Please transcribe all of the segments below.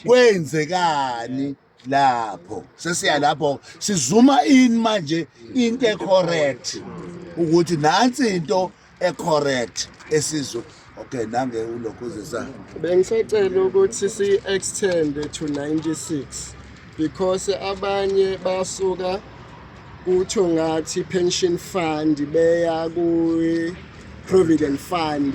kwenzekani lapho sesiya lapho sizuma in manje into ecorrect ukuthi nansi into ecorrect esizwe okay nange ulokhuzisa bengisacela ukuthi si extend to 96 because abanye basuka kutho ngathi pension fund beya ku provident fund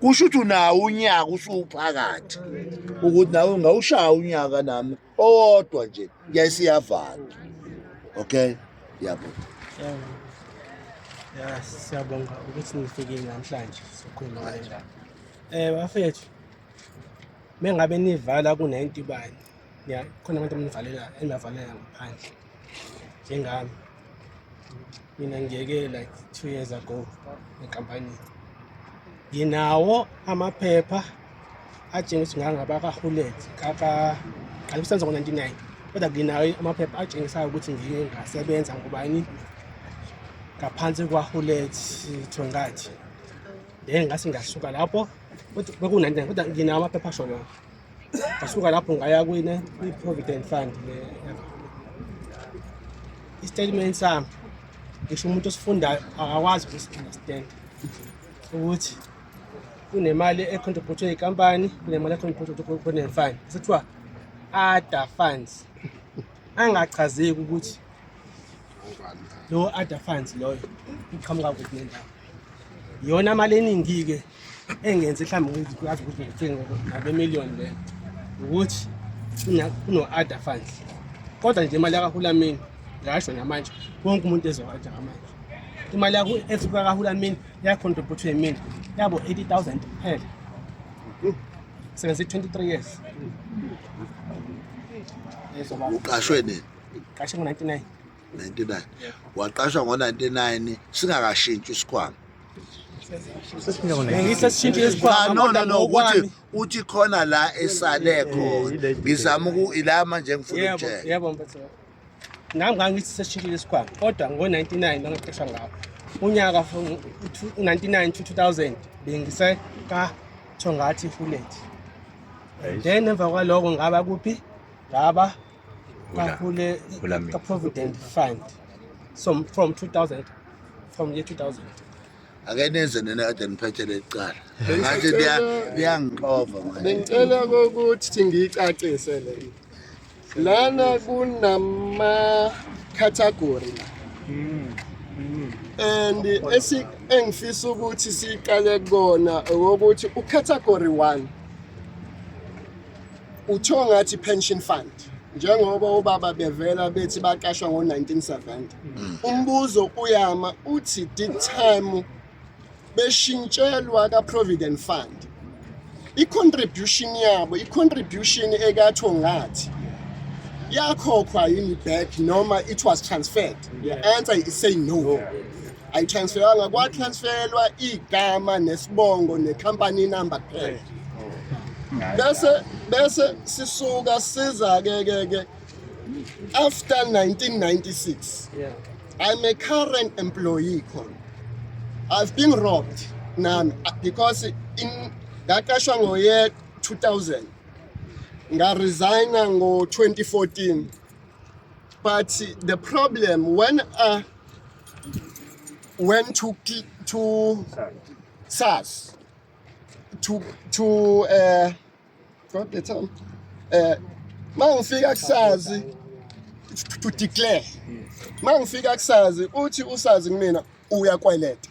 kusho ukuthi unawo unyaka usuphakathi ukuthi nawe ngawushaya unyaka nami owodwa nje yayisiyavala okay yabo ya siyabonga ukuthi nifikile namhlanje sokhuluma ngale ndaba um bafethu mengabe nivala ku-90 bani ya khona abantu mnivalela enivavalela ngaphandle njengami mina ngiyeke like two years ago enkampanini nginawo amaphepha atshengisa ngangabakahulet kaqala kusenza ngo-99 kodwa nginawo amaphepha atshengisayo ukuthi ngike ngasebenza ngubani ngaphansi kwahulet thongathi then ngase ngasuka lapho beku-99 kodwa nginawo amaphepha asho lokho ngasuka lapho ngaya kwine kwi-provident fund le i-statement sami ngisho umuntu osifundayo akakwazi ukusi-understand ukuthi kunemali econtributhe iy'kampani kunemali econtributhe provident fund sekuthiwa other funds angachazeki ukuthi lowo other funds loyo iqhamuka kuphi nendawo iyona mali eningi-ke engenze mhlawumbe ukuthi kwazi ukuthi ngithenge ngabemiliyoni le ukuthi kuno-ada fund kodwa nje imali yakahulameni ngasho namanje wonke umuntu ezowaja ngamanje imali yakho esuka kahulameni yakhontribhuthwa yimina yabo 80 000 kuphela sebenze 23 years uqashwe nini qashe ngo-99 99 waqashwa ngo-99 singakashintshi isikhwama nokuthi uthi khona la esale khona ngizama ila manje ngifuna ukutshela nami ngangithi sesishintshile isikhwama kodwa ngo-99 bangaqeshwa ngawo unyaka u-99 to 2000 bengisekathongathi fulethi then emva kwaloko ngaba kuphi ngaba ngakule the provident fund so from 2000 from year 2000 ake nenze nina kade niphethele icala ngathi liyangixova manje bengicela ukuthi ngiyicacise le lana kunama category la hmm, hmm. and esi engifisa ukuthi siqale kona ukuthi ucategory 1 Kuthiwa ngathi pension fund njengoba obaba bevela bethi baqashwa ngo-1970 mm. umbuzo uyama uthi did time beshintshelwa ka-provident fund i-contribution yabo i-contribution ekathiwo ngathi yakhokhwa yini back noma it was transferred the answer is say no ayitransferanga kwatransferwa igama nesibongo necompany number kuphela bese bese sisuka siza ke ke ke after 1996 yeah. i'm a current employee khona i've been robbed nami because in ngaqashwa ngoye 2000 ngaresigna ngo 2014 but the problem when i went to Ki- to SARS to to uh what the term uh mangifika kusazi to- to declare mangifika kusazi uthi usazi kumina uyakweleta